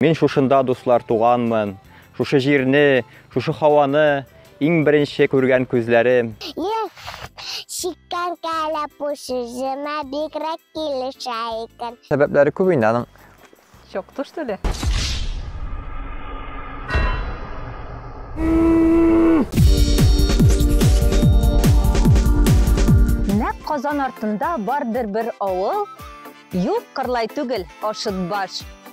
Мин шушында, дуслар, туганмын. Шушы җирне, шушы һаваны иң беренче күргән күзләрем. Эх, чиккән кәләпү сүземә бигрәк килешә икән. Сәбәпләре күп инде аның. Чок туш теле. Нәк Казан артында бардыр бер авыл, юк, Кырлай түгел, Ашытбаш.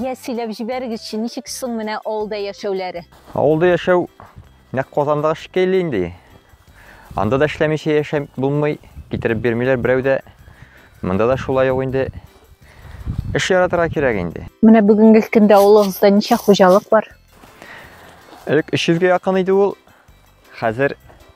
Я, сөйләп җибәрегезче, ничек соң менә авылда яшәүләре? Авылда яшәү нәкъ Казандагы шикелле инде. Анда да эшләмичә яшәп булмый, китереп бирмиләр берәү дә. Монда да шулай ук инде. Эш яратырга кирәк инде. Менә бүгенге көндә авылыгызда ничә хуҗалык бар? Элек 300 гә якын иде ул. Хәзер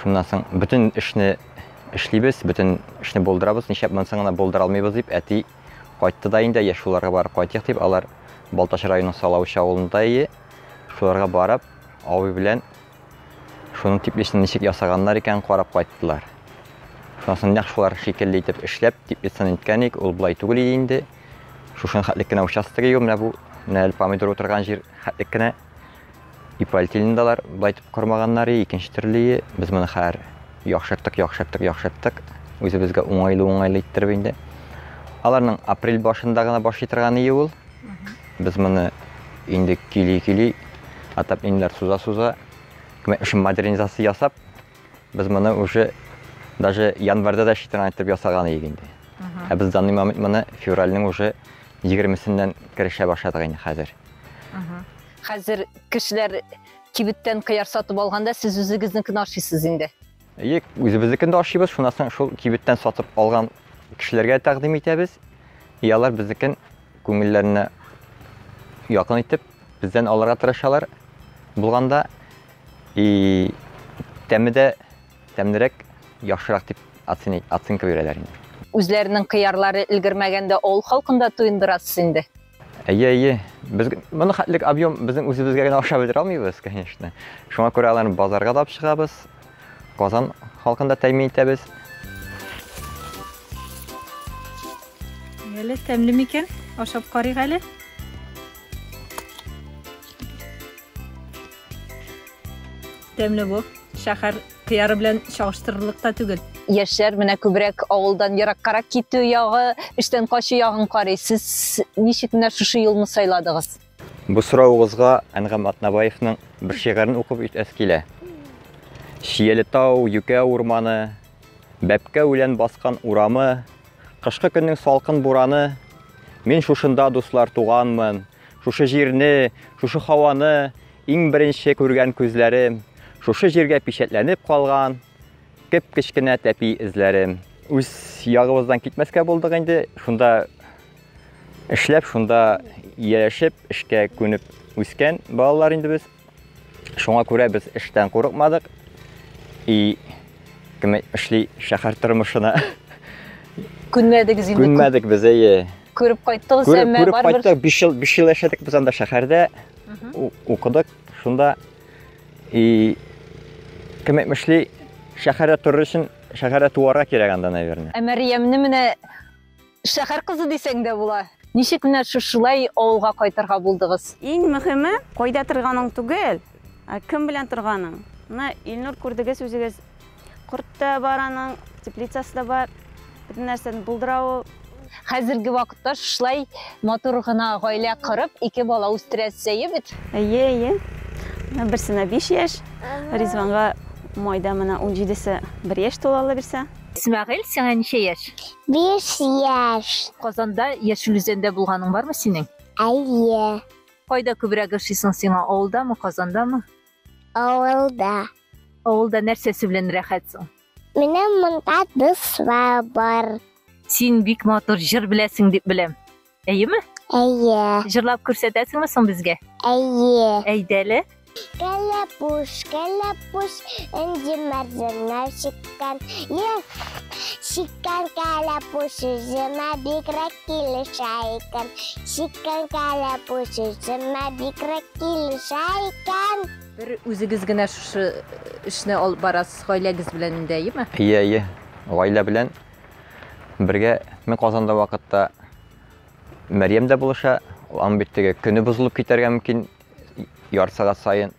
Шуннан соң бөтен эшне эшлибез, бөтен эшне булдырабыз. Нишләп монсын гына булдыра алмыйбыз дип, әти кайтты да инде, я шуларга барып кайтыйк дип, алар Балтач районының Салавыч авылында ие. Шуларга барып, авый белән шуның теплицаны ничек ясаганнар икән, карап кайттылар. Шуннан соң нәкъ шулар шикелле итеп эшләп, теплицаны иткән ик, ул болай түгел иде инде. Шушын хәтлек кенә участок ию, менә бу, менә әле помидор утырган җир хәтлек кенә. Ипольтилин да алар болай итеп кормаганнар и икенче төрле и. Без моны хәзер яхшырттык, яхшырттык, яхшырттык. Үзебезгә уңайлы-уңайлы иттереп инде. Аларның апрель башында гына башлый торган и ул. Без моны инде кили-кили, атап инләр суза-суза, шуны модернизация ясап, без моны уже даже январьда да эшли торган итеп ясаган идек инде. Ә без данный момент моны февральнең уже Егермесеннән керешә башладык инде хәзер. Хәзер кешеләр кибеттән кыяр сатып алганда, сез үзегезнекен ашыйсыз инде. Әйе, үзебезнекен дә ашыйбыз, шуннан соң шул кибеттән сатып алган кешеләргә тәкъдим итәбез. И алар безнекен күңелләренә якын итеп, бездән алырга тырышалар булганда. И тәме дә Тәмнерәк, яхшырак дип оценка бирәләр инде. Үзләренең кыярлары өлгермәгәндә авыл халкын да туендырасыз инде? Әйе, әйе. Без моны хәтлек объем безнең үзебезгә генә ашап бетерә алмыйбыз, конечно. Шуңа күрә аларны базарга да алып чыгабыз. Казан халкын да тәэмин итәбез. Әле тәмле микән? Ашап карыйк әле. Тәмле бу. Шәһәр кыяры белән чагыштырырлык та түгел. Яшьләр менә күбрәк авылдан ераккарак китү ягы, эштән качу ягын карый. Сез ничек менә шушы юлны сайладыгыз? Бу соравыгызга Әнгам Атнабаевның бер шигырен укып үтәс килә. Шияле тау, юкә урманы, бәпкә үлән баскан урамы, кышкы көннең салкын бураны, мин шушында, дуслар, туганмын, шушы җирне, шушы һаваны, Иң беренче күргән күзләрем, шушы җиргә пичәтләнеп калган кеп-кечкенә тәпи эзләре. Үз ягыбыздан китмәскә булдык инде, шунда эшләп, шунда яшәп, эшкә күнеп үскән балалар инде без. Шуңа күрә без эштән курыкмадык. И кем эшли шәһәр тормышына. Күнмәдегез инде. Күнмәдек без, әйе. Күреп кайттыгыз, әмма барыбер. Күреп кайттык, 5 ел, 5 ел яшәдек без анда шәһәрдә. укыдык. Шунда и кем әйтмешли, шәһәрдә торыр өчен шәһәрдә туарга кирәк анда, наверное. Ә Мәриямне менә шәһәр кызы дисәң дә була. Ничек менә шушылай авылга кайтырга булдыгыз? Иң мөһиме, кайда торганың түгел, ә кем белән торганың. Менә Илнур күрдегез үзегез, Корт та бар аның, теплицасы да бар. Бөтен нәрсәне булдыра ул. Хәзерге вакытта шулай матур гына гаилә корып, ике бала үстерәсе әйе бит? Әйе, әйе. Берсенә 5 яшь, Ризванга майда менә 17-се 1 яшь тула ала бирсә. Исмәгыйль, сиңа ничә яшь? 5 яшь. Казанда Яшел Үзәндә булганың бармы синең? Әйе. Кайда күбрәк ошыйсың сиңа, авылдамы, Казандамы? Авылда. Авылда нәрсәсе белән рәхәт соң? Менә монда дуслар бар. Син бик матур җыр беләсең дип беләм. Әйеме? Әйе. Җырлап күрсәтәсеңме соң безгә? Әйе. Әйдәле. Кәләпүш, кәләпүш, энҗе мәрзәннәр чик. чиккән, ел чиккән кәләпүш үземә бигрәк килешә икән. Чиккән кәләпүш үземә бигрәк килешә икән. Бер үзегез генә шушы эшне алып барасыз, гаиләгез белән инде, әйеме? Әйе, әйе. Гаилә белән бергә мин Казанда вакытта Мәрьям дә булыша, аның бит теге көне бозылып китәргә мөмкин ярсыгат сайын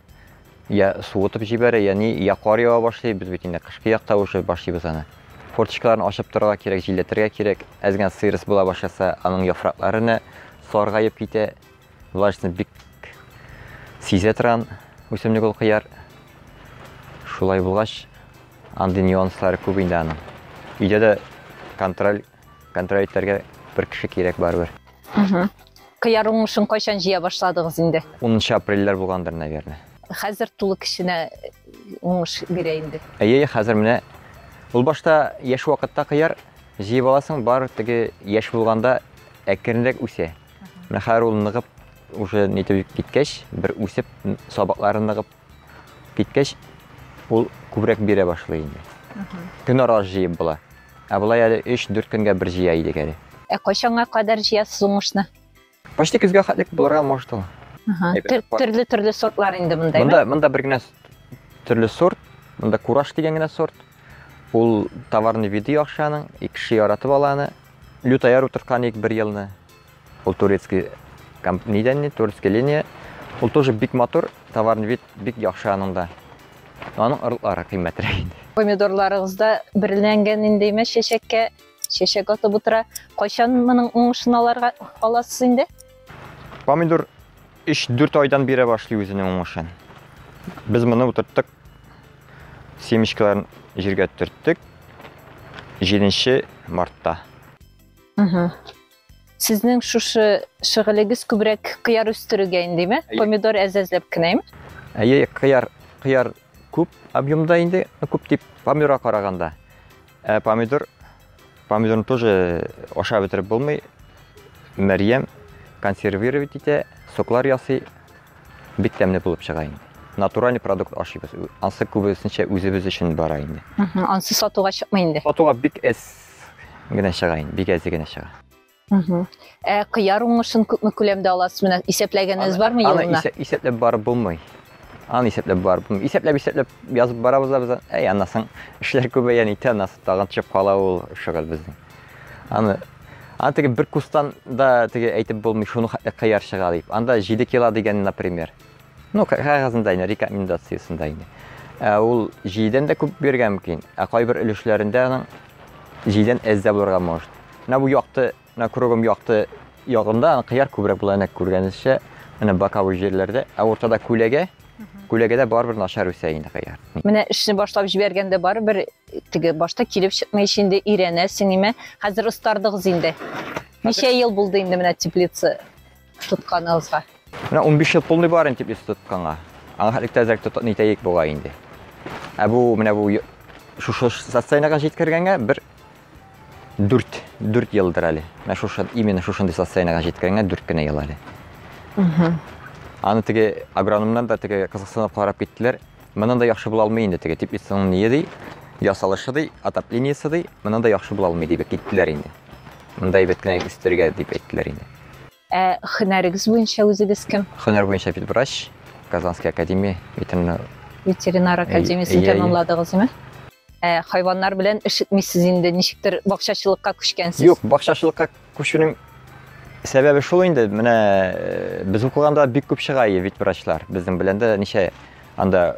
я суытып җибәрә, я ни, я кар ява башлый, без бит инде кышкы якта уже башлыйбыз аны. Форточкаларын ачып торырга кирәк, җилләтергә кирәк. Әз генә сыйрыс була башласа, аның яфраклары нә саргаеп китә. Влажны бик сизә торган үсемлек ул кыяр. Шулай булгач, андый нюанслары күп инде аның. Өйдә дә контроль Контроль итәргә бер кеше кирәк барыбер. Кыяр уңышын кайчан җыя башладыгыз инде? 10 апрельләр булгандыр, наверное. Хәзер тулы кешенә уңыш бирә инде. Әйе, хәзер менә ул башта яшь вакытта кыяр җыеп аласың, бар теге яшь булганда әкренрәк үсә. Менә хәзер ул ныгып уже нитеп киткәч, бер үсеп, сабаклары ныгып, Киткәч, ул күбрәк бирә башлый инде. Көн ара җыеп була. Ә болай әле 3-4 көнгә бер җыя идек әле. Ә кайчанга кадәр җыясыз уңышны? Почти көзгә хәтлек булырга может ул. Төрле-төрле сортлар инде мондаймы? Монда, монда бер генә төрле сорт. Монда кураж дигән генә сорт. Ул товарный виды яхшы аның, и кеше яратып ала аны. Лютая рутырткан идек бер елны. Ул турецкий нидән ни, турецкий линия. Ул тоже бик матур, товарный вид бик яхшы аның да. Аның орлары кыйммәтрәк инде. Помидорларыгыз да берләнгән инде имеш чәчәккә, чәчәк атып утыра. Кайчан моның уңышын аларга аласыз инде? Помидор 3-4 айдан бирә башлый үзенең уңышын. Без моны утырттык. Семечкаларын җиргә төрттек. 7 мартта. Сезнең шушы шөгылегез күбрәк кыяр үстерүгә индеме? Помидор әзәзләп кенәме? Әйе, кыяр, кыяр күп объемда инде, күп дип помидорга караганда. Ә помидор, помидорны тоже ашап бетереп булмый. Мәрьям консервировать итә, соклар ясый, бик тәмле булып чыга инде. Натуральный продукт ашыйбыз. Ансы күбесенчә үзебез өчен бара инде. Ансы сатуга чыкмый инде. Сатуга бик әз генә чыга инде, бик әзе генә чыга. Ә кыяр уңышын күпме күләмдә аласыз? Менә исәпләгәнегез бармы елына? Аны исәп, исәпләп барып булмый. Аны исәпләп барып булмый. Исәпләп, исәпләп язып барабыз да без. Әй, аннан соң эшләр күбәя, нитә, аннан соң тагын төшеп кала ул шөгыль безнең. Аны Аны теге бер кустан да теге әйтеп булмый, шуны кыяр чыга дип. Анда 7 кило дигән, например. Ну, кәгазендә инде, рекомендациясендә инде. Ә ул җидән дә күп бирергә мөмкин, ә кайбер өлешләрендә аның җидән әз дә булырга может. Менә бу якты, менә кругом якты ягында аны кыяр күбрәк була, әнә күргәнегезчә, менә боковой җирләрдә, ә уртада күләгә, күләгәдә барыбер начар үсә инде кыяр. Менә эшне башлап җибәргәндә барыбер теге башта килеп чыкмый ич инде өйрәнәсең, нимә. Хәзер остардыгыз инде. Ничә ел булды инде менә теплица тотканыгызга? Менә 15 ел тулмый барын дип исә тотканга. Аңа хәтлек тәзрәк тот нитәйек буга инде. Ә бу менә бу шушы социальнага җиткергәнгә бер 4 4 елдыр әле. Менә шушы именно шушындый социальнага җиткергәнгә 4 кенә ел әле. Угу. Аны теге агрономнан да теге кызыксынып карап киттеләр. Моннан да яхшы була алмый инде теге дип исән ние ди. Ясалышы ди, отоплениесе ди. Моннан да яхшы була алмый дип киттеләр инде. Монда әйбәт кенә үстергә дип әйттеләр инде. Ә хөнәрегез буенча үзегез кем? Хөнәр буенча ветврач, Казанский академия ветеринар. Ветеринар академиясен Әйе, әйе. тәмамладыгызмы? Ә хайваннар белән эш итмисез инде, ничектер бакчачылыкка күчкәнсез. Юк, бакчачылыкка күчүнең сәбәбе шул инде. Менә э, без укыганда бик күп чыга ие ветврачлар. Безнең белән дә ничә анда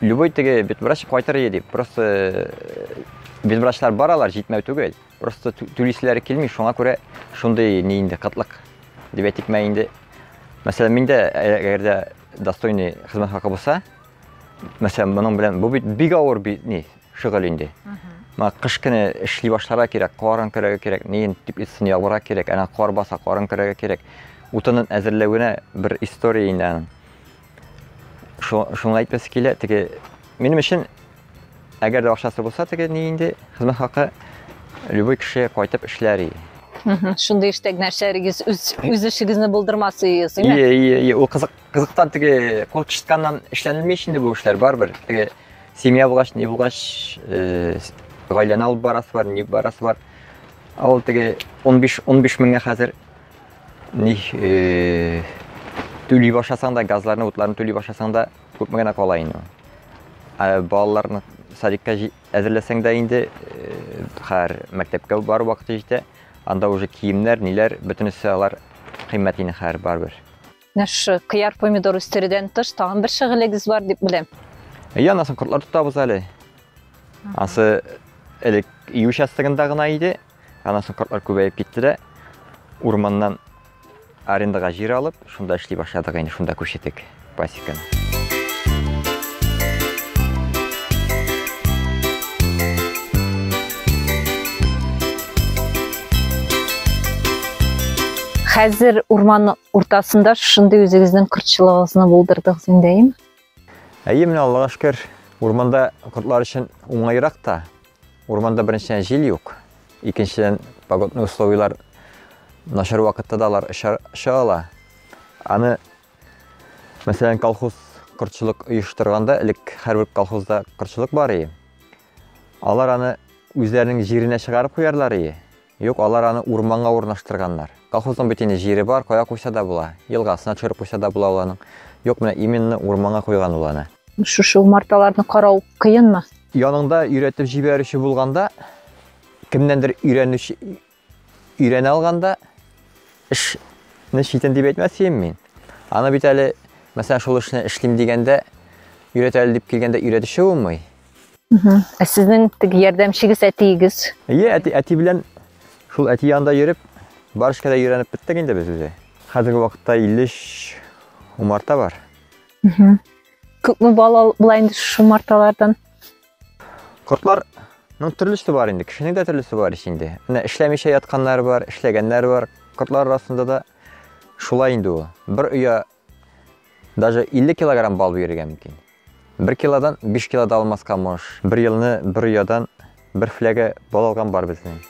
Любой теге бит врач кайтыр иде дип, просто э, бит врачлар баралар, җитмәү түгел. Просто түлиселәре килми, шуңа күрә шундый ни инде кытлык. Дип әйтик мә инде. Мәсәлән, миндә әгәр дә достойный хезмәт хакы булса, мәсәлән, моның белән бу бит бик авыр бит ни шөгыль инде. Ма кыш көне эшли башларга кирәк, карын керәгә кирәк, нин дип итсен ягырга кирәк, әнә кар баса, карын керәгә кирәк. Утынын әзерләвенә бер история инде аның. Шуны әйтәсе килә, теге минем өчен әгәр дә акчасы булса, теге ни инде хезмәт хакы любой кеше кайтып эшләр иде. Шундый эштә генә эшләрегез, үз эшегезне булдырмас идегез, әйме? Ие, ие, ие. Ул кызык, кызыктан теге кул чышканнан эшләнелми ич инде бу эшләр барыбер. Теге семья булгач, ни булгач, э, гаиләне алып барасы бар, ни барасы бар. Ул теге 15 15 меңгә хәзер Ни э, түли башласаң да, газларны, утларны түли башласаң да, күпме генә кала инде. Ә балаларны садикка әзерләсәң дә инде, э, хәр мәктәпкә бар вакыты җитә. Анда уже киемнәр, ниләр, бөтенесе алар кыйммәт инде хәр барбер. Менә шушы кыяр помидор үстерүдән тыш тагын бер шөгылегез бар дип беләм. Әйе, анасын кортлар тотабыз әле. Ансы элек ию участогында гына иде. Анасын кортлар күбәеп китте дә урманнан арендага җир алып, шунда эшли башладык инде, шунда күчтек пасеканы. Хәзер урманның Уртасында шушындый үзегезнең кортчылыгыгызны булдырдыгыз индәем. Әйе, менә Аллага шөкер, урманда кортлар өчен уңайрак та. Урманда беренчедән җил юк, икенчедән погодный условияләр начар вакытта да алар оча ала. Аны мәсәлән колхоз кортчылык оештырганда, элек һәрбер колхозда кортчылык бар иде. Алар аны үзләренең җиренә чыгарып куярлар иде. Юк, алар аны урманга урнаштырганнар. Колхозның бит инде җире бар, кая куйса да була. Елгасына төшереп куйса да була ул аның. Юк, менә именно урманга куйган ул аны. Шушы умарталарны карау кыенмы? Яныңда өйрәтеп җибәрүче булганда, кемнәндер өйрәнүче өйрәнә алганда, эшне читен дип әйтмәсем мин. Аны бит әле, мәсәлән, шул эшне эшлим дигәндә, өйрәтәле дип килгәндә өйрәтүче булмый. Ә сезнең теге ярдәмчегез әтиегез? Әйе, әти, әти белән шул әти янында йөреп, барышка да өйрәнеп беттек инде без үзе. Хәзерге вакытта 53 умарта бар. Күпме бала була инде шушы умарталардан? Кортларның төрлесе бар инде, кешенең дә төрлесе бар ич инде. Менә эшләмичә ятканнар бар, эшләгәннәр бар. Кортлар арасында да шулай инде ул. Бер оя Даже 50 килограмм бал бирергә мөмкин. Бер килодан 5 кило да алмаска мош. Бер елны бер оядан бер фләгә бал алган бар безнең.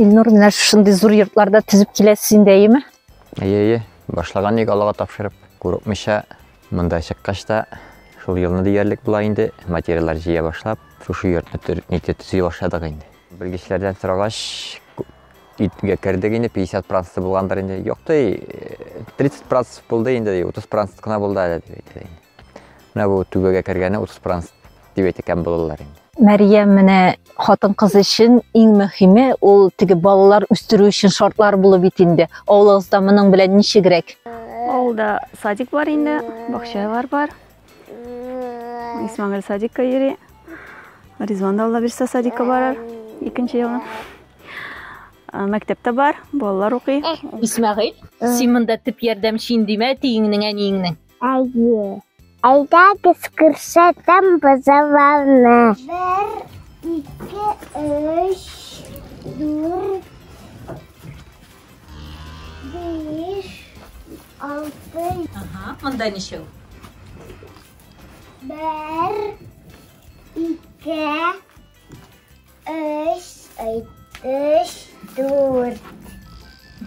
Илнур, менә шундый зур йортларда төзеп киләсез инде, әйеме? Әйе, әйе. Башлаган ник Аллага тапшырып, курыкмыйча монда чыккач та шул елны диярлек була инде материаллар җыя башлап, шушы йортны төзи башладык инде. Белгечләрдән сорагач, итгә кердек инде, 50 проценты булгандыр инде. Юк ди, 30 процент булды инде, 30 процент кына булды әле дип әйтте. Менә бу түбәгә кергәне 30 процент дип әйткән булалар инде. Мәриям менә хатын кыз өчен иң мөһиме ул теге балалар үстерү өчен шартлар булу бит инде. Авылыгызда моның белән ничегрәк? Авылда садик бар инде, бакчалар бар. Исмагил садикка йөри. Ризван да Алла бирсә садикка барар. Икенче елны. Ә, Мәктәптә бар, балалар укый. Исмәгыйль, син монда төп ярдәмче инде димә, тиеңнең әниеңнең. Әйе. Әйдәгез күрсәтәм бозауларны. Бер, ике, өч, дүрт, Биш, алты. Ага, монда ничәү? Бер, ике, өч, өч, дүрт.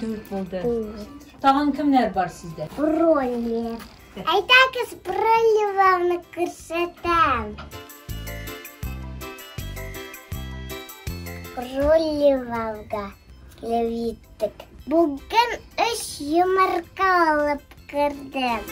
Дүрт булды. Тагын кемнәр бар сездә? Роллер. Әйдәгез броневалны күрсәтәм. Броневалга килеп җиттек. Бүген өч йомырка алып кердем.